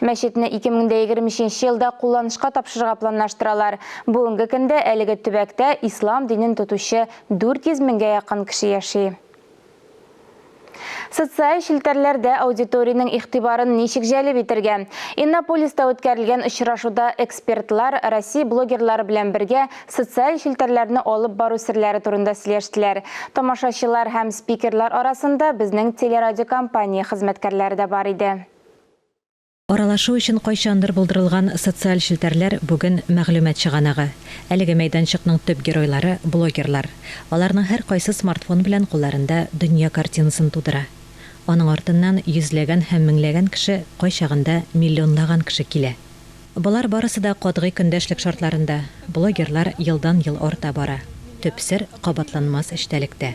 Мәчетне 2023 нче елда кулланышка тапшырырга планлаштыралар. Бүгенге көндә әлеге төбәктә ислам динен тотучы 400 меңгә якын кеше яши. Социаль челтәрләрдә аудиториянең игътибарын ничек җәлеп итергә? Иннополиста үткәрелгән очрашуда экспертлар Россия блогерлары белән бергә социаль челтәрләрне алып бару серләре турында сөйләштеләр. Тамашачылар һәм спикерлар арасында безнең телерадиокомпания хезмәткәрләре дә бар иде. Аралашу өчен кайчандыр булдырылган социаль челтәрләр бүген мәгълүмат чыганагы. Әлеге мәйданчыкның төп геройлары, блогерлар. Аларның һәркайсы смартфон белән кулларында дөнья картинасын тудыра. Аның артыннан йөзләгән һәм меңләгән кеше, кайчагында миллионлаган кеше килә. Болар барысы да катгый көндәшлек шартларында. Блогерлар елдан-ел арта бара. Төп сер, кабатланмас эчтәлектә.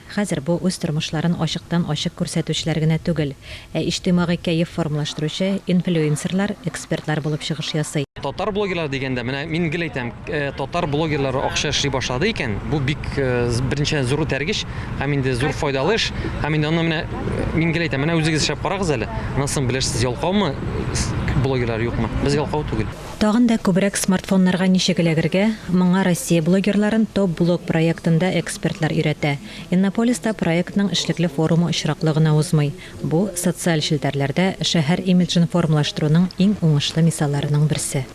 Хәзер бу үз тормышларын ачыктан-ачык күрсәтүчеләр генә түгел, ә иҗтимагый кәеф формалаштыручы инфлюенсерлар, экспертлар булып чыгыш ясый. Татар блогерлары дигәндә, менә мин гел әйтәм, татар блогерлары акча эшли башлады икән, бу бик, беренчедән, зур этәргеч һәм инде зур файдалы эш. Һәм инде аны менә, мин гел әйтәм, менә үзегез эшләп карагыз әле, аннан соң белерсез, ялкаумы блогерлар, юкмы. Без ялкау түгел. Тагын да күбрәк смартфоннарга ничек эләгергә, моңа Россия блогерларын Топ блог проектында экспертлар өйрәтә. Иннополиста проектның эшлекле форумы очраклы гына узмый. Бу, социаль челтәрләрдә шәһәр имиджын формалаштыруның иң уңышлы мисалларының берсе.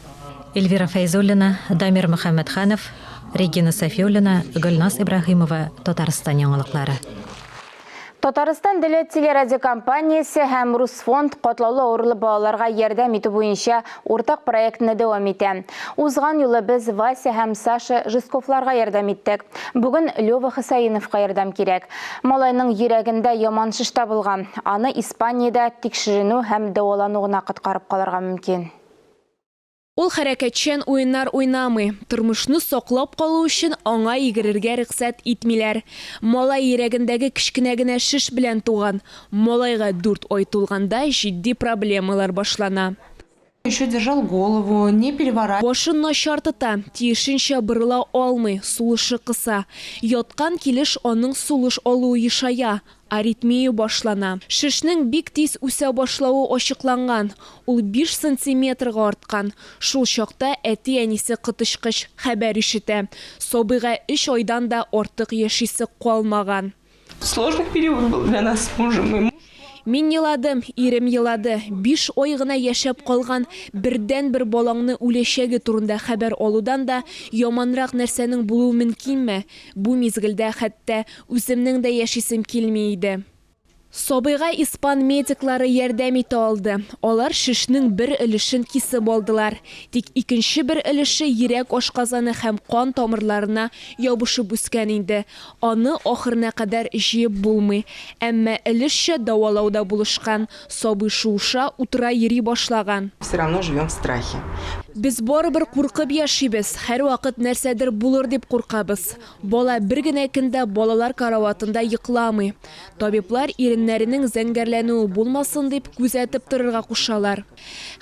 Эльвира Фәйзуллина, Дамир Мөхәммәтханов, Регина Сафиуллина, Гөлназ Ибраһимова, Татарстан яңалыклары. Татарстан теле телерадиокомпаниясе һәм Русфонд катлаулы авырлы балаларга ярдәм итү буенча уртак проектны дәвам итә. Узган юлы без Вася һәм Саша Жестковларга ярдәм иттек. Бүген Лева Хөсәеновка ярдәм кирәк. Малайның йөрәгендә яман шеш табылган. Аны Испаниядә тикшеренү һәм дәвалану гына коткарып калырга мөмкин. Ул хәрәкәтчән уеннар уйнамый, тормышны саклап калу өчен аңа йөгерергә рөхсәт итмиләр. Малай йөрәгендәге кечкенә генә шеш белән туган. Малайга дүрт ай тулганда җитди проблемалар башлана. Еще держал голову, не переворачивал. Башын начар тота, тиешенчә борыла алмый, сулышы кыса. Яткан килеш аның сулыш алуы ешая, Аритмия башлана. Шешнең бик тиз үсә башлавы ачыкланган, ул биш сантиметрга арткан. Шул чакта әти-әнисе коточкыч хәбәр ишетә, сабыйга өч айдан да артык яшисе калмаган. Сложный период был для нас с мужем, и муж плакал. Мин еладым, ирем елады. Биш ай гына яшәп калган бердәнбер балаңны үләчәге турында хәбәр алудан да яманрак нәрсәнең булуы мөмкинме? Бу мизгелдә хәтта үземнең дә яшисем килми иде. Сабыйга испан медиклары ярдәм итә алды. Алар шешнең бер өлешен кисеп алдылар. Тик икенче бер өлеше йөрәк ашказаны һәм кан тамырларына ябышып үскән инде. Аны ахырына кадәр җыеп булмый. Әмма өлешчә дәвалау да булышкан. Сабый шуыша, утыра, йөри башлаган. Все равно живем в страхе. Без барыбер куркып яшибез, һәрвакыт нәрсәдер булыр дип куркабыз. Бала бер генә көн дә балалар караватында йокламый. Табиблар иреннәренең зәңгәрләнүе булмасын дип, күзәтеп торырга кушалар.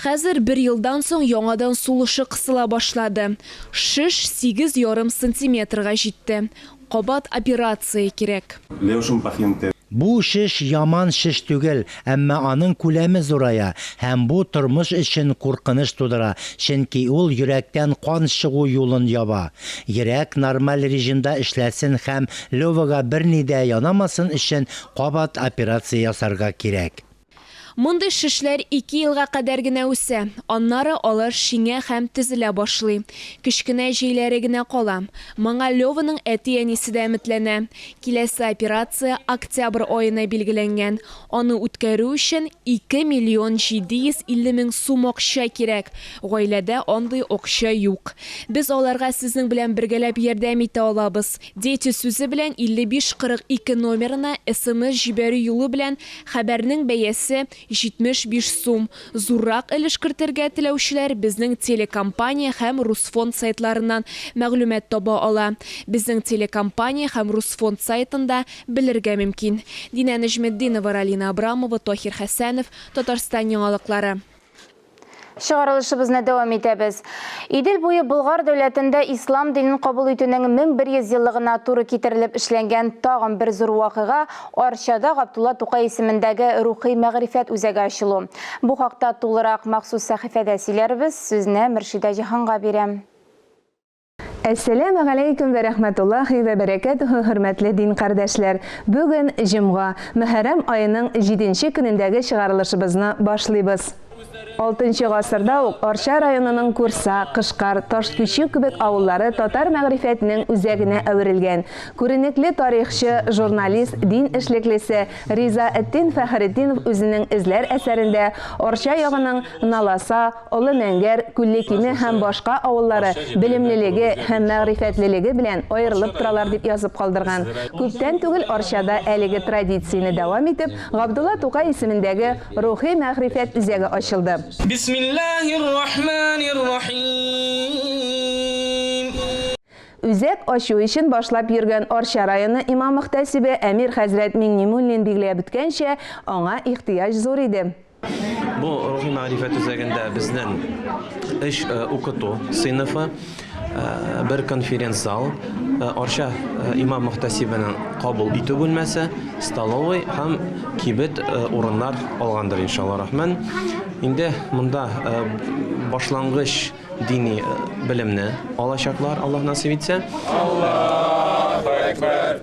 Хәзер бер елдан соң яңадан сулышы кысыла башлады. Шеш сигез ярым сантиметрга җитте. Кабат операция кирәк. Леушин пахинте. Бу шеш яман шеш түгел, әмма аның күләме зурая, һәм бу тормыш өчен куркыныч тудыра, чөнки ул йөрәктән кан чыгу юлын яба. Йөрәк нормаль режимда эшләсен һәм Левага берни дә янамасын өчен кабат операция ясарга кирәк. Мондый шешләр ике елга кадәр генә үсә, аннары алар шиңә һәм тезелә башлый. Кечкенә җәйләре генә кала. Моңа Леваның әти-әнисе дә өметләнә. Киләсе операция октябрь аена билгеләнгән. Аны үткәрү өчен 2 миллион 750 мең сум акча кирәк. Гаиләдә андый акча юк. Без аларга сезнең белән бергәләп ярдәм итә алабыз. Дети сүзе белән 5542 номерына смс җибәрү юлы белән хәбәрнең бәясе 75 сум. Зуррак өлеш кертергә теләүчеләр безнең телекомпания һәм Русфонд сайтларыннан мәгълүмат таба ала. Безнең телекомпания һәм Русфонд сайтында белергә мөмкин. Динә Нәҗметдинова, Ралина Абрамова, Таһир Хәсәнов, Татарстан яңалыклары. Чыгарылышыбызны дәвам итәбез. Идел буе Болгар дәүләтендә ислам динен кабул итүнең 1100 еллыгына туры китерелеп эшләнгән тагын бер зур вакыйга, Арчада Габдулла Тукай исемендәге рухи-мәгърифәт үзәге ачылу. Бу хакта тулырак махсус сәхифәдә сөйләрбез, сүзне Мөршидә Җиһанга бирәм. Әссәләмә галәйкүм вә рәхмәтуллаһи вә бәрәкәтүһү хөрмәтле дин кардәшләр! Бүген җомга, Мөхәррәм аеның җиденче көнендәге чыгарылышыбызны башлыйбыз. Алтынчы гасырда ук Арча районының Курса, Кышкар, Ташкичү кебек авыллары татар мәгърифәтенең үзәгенә әверелгән, күренекле тарихчы, журналист, дин эшлеклесе Ризаэтдин Фәхретдинов үзенең эзләр әсәрендә Арча ягының Наласа, Олы Мәңгәр, Күлле Киме һәм башка авыллары белемлелеге һәм мәгърифәтлелеге белән аерылып торалар, дип язып калдырган. Күптән түгел Арчада әлеге традицияне дәвам итеп, Габдулла Тукай исемендәге Рухи мәгърифәт үзәге ачылды. Бисмиллаһир-рахманир-рахим. Үзәк ачу эшен башлап йөргән Арча районы имам-мөхтәсибе Әмир хәзрәт Миңнемуллин билгеләп үткәнчә, аңа ихтыяҗ зур иде. Бу рухи мәгърифә төзегендә безнең эш э, укыту сыйныфы, э, бер конференц зал, э, Арча имам мөхтәсибенең кабул итү бүлмәсе, столовый һәм кибет урыннар алгандыр иншалла рахман. Инде монда башлангыч дини белемне алачаклар, Аллаһ насыйп итсә. Аллаһу акбар.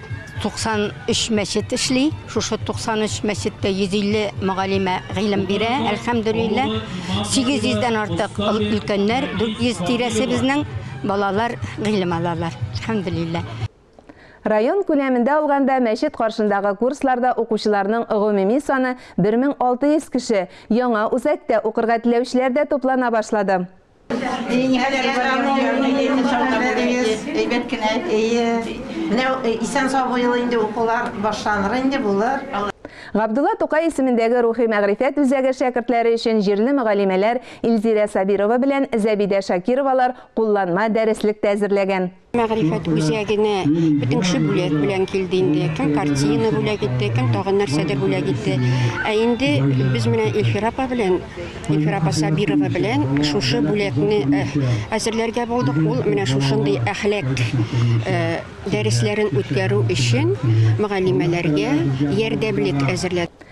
93 мәчет эшли. Шушы 93 мәчеттә 150 мөгаллимә гыйлем бирә. Әлхәмдулилла. 800 дән артык өлкәннәр, 400 тирәсе безнең балалар гыйлем алалар. Әлхәмдулилла. Район күләмендә алганда, мәчет каршындагы курсларда укучыларның гомуми саны 1600 кеше. Яңа үзәктә укырга теләүчеләр дә туплана башлады. Габдулла Тукай исемендәге рухи-мәгърифәт үзәге шәкертләре өчен җирле мөгаллимәләр Илзирә Сабирова белән Зәбидә Шакировалар кулланма дәреслек тә әзерләгән. Мәгърифәт үзәгенә бөтен кеше бүләк белән килде инде. Кем картина бүләк итте, кем тагын нәрсәдер бүләк итте. Ә инде без менә Эльфира апа белән, Эльфира апа Сабирова белән шушы бүләкне э, әзерләргә булдык. Ул менә шушындый әхлак э, дәресләрен үткәрү өчен мөгаллимәләргә ярдәмлек әзерләде.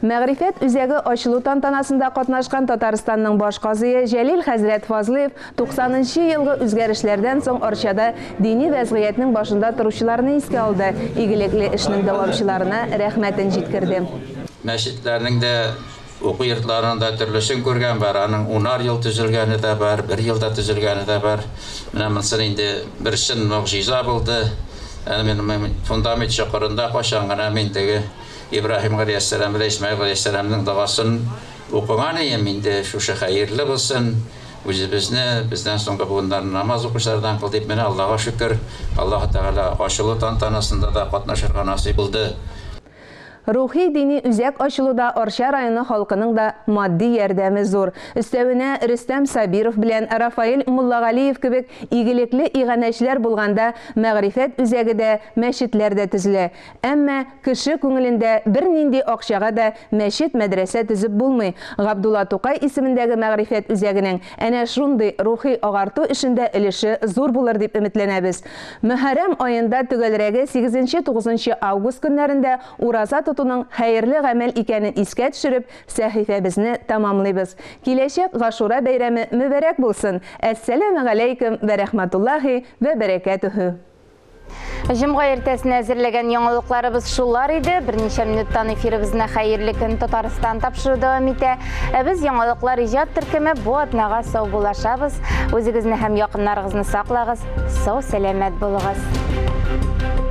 Мәгърифәт үзәге ачылу тантанасында катнашкан Татарстанның баш казые Җәлил хәзрәт Фазлыев 90 нчы елгы үзгәрешләрдән соң Арчада дини вәзгыятьнең башында торучыларны искә алды, игелекле эшнең дәвамчыларына рәхмәтен җиткерде. Мәчетләрнең дә, уку йортларының да төрлесен күргән бар. Аның унар ел төзелгәне дә бар, бер елда төзелгәне дә бар. Менә монысы инде бер чын могҗиза булды. Әнә менә фундамент чокырында кайчан гына мин теге Ибраһим галәйһиссәлам белән Исмәгыйль галәйһиссәламнең догасын укыган ием, инде шушы хәерле булсын, үзебезне, бездән соңгы буыннарны намаз укучылардан кыл, дип, менә Аллага шөкер, Аллаһы Тәгалә ачылу тантанасында да катнашырга насыйп булды. Рухи-дини үзәк ачылуда Арча районы халкының да матди ярдәме зур. Өстәвенә, Рөстәм Сабиров белән Рафаэль Муллагалиев кебек игелекле иганәчеләр булганда мәгърифәт үзәге дә, мәчетләр дә төзелә. Әмма кеше күңелендә бернинди акчага да мәчет-мәдрәсә төзеп булмый. Габдулла Тукай исемендәге мәгърифәт үзәгенең әнә шундый рухи агарту эшендә өлеше зур булыр дип өметләнәбез. Мөхәррәм аенда төгәлрәге сигезенче-тугызынчы август көннәрендә ураза тотуның хәерле гамәл икәнен искә төшереп, сәхифәбезне тәмамлыйбыз. Киләчәк Гашура бәйрәме мөбарәк булсын! Әссәләмегаләйкем вә рәхмәтуллаһи вә бәрәкәтүһү! Җомга иртәсенә әзерләгән яңалыкларыбыз шулар иде. Берничә минуттан эфирыбызны Хәерле көн Татарстан тапшыру дәвам итә. Ә без яңалыклар иҗат төркеме бу атнага сау булашабыз. Үзегезне һәм якыннарыгызны саклагыз, сау сәламәт булыгыз.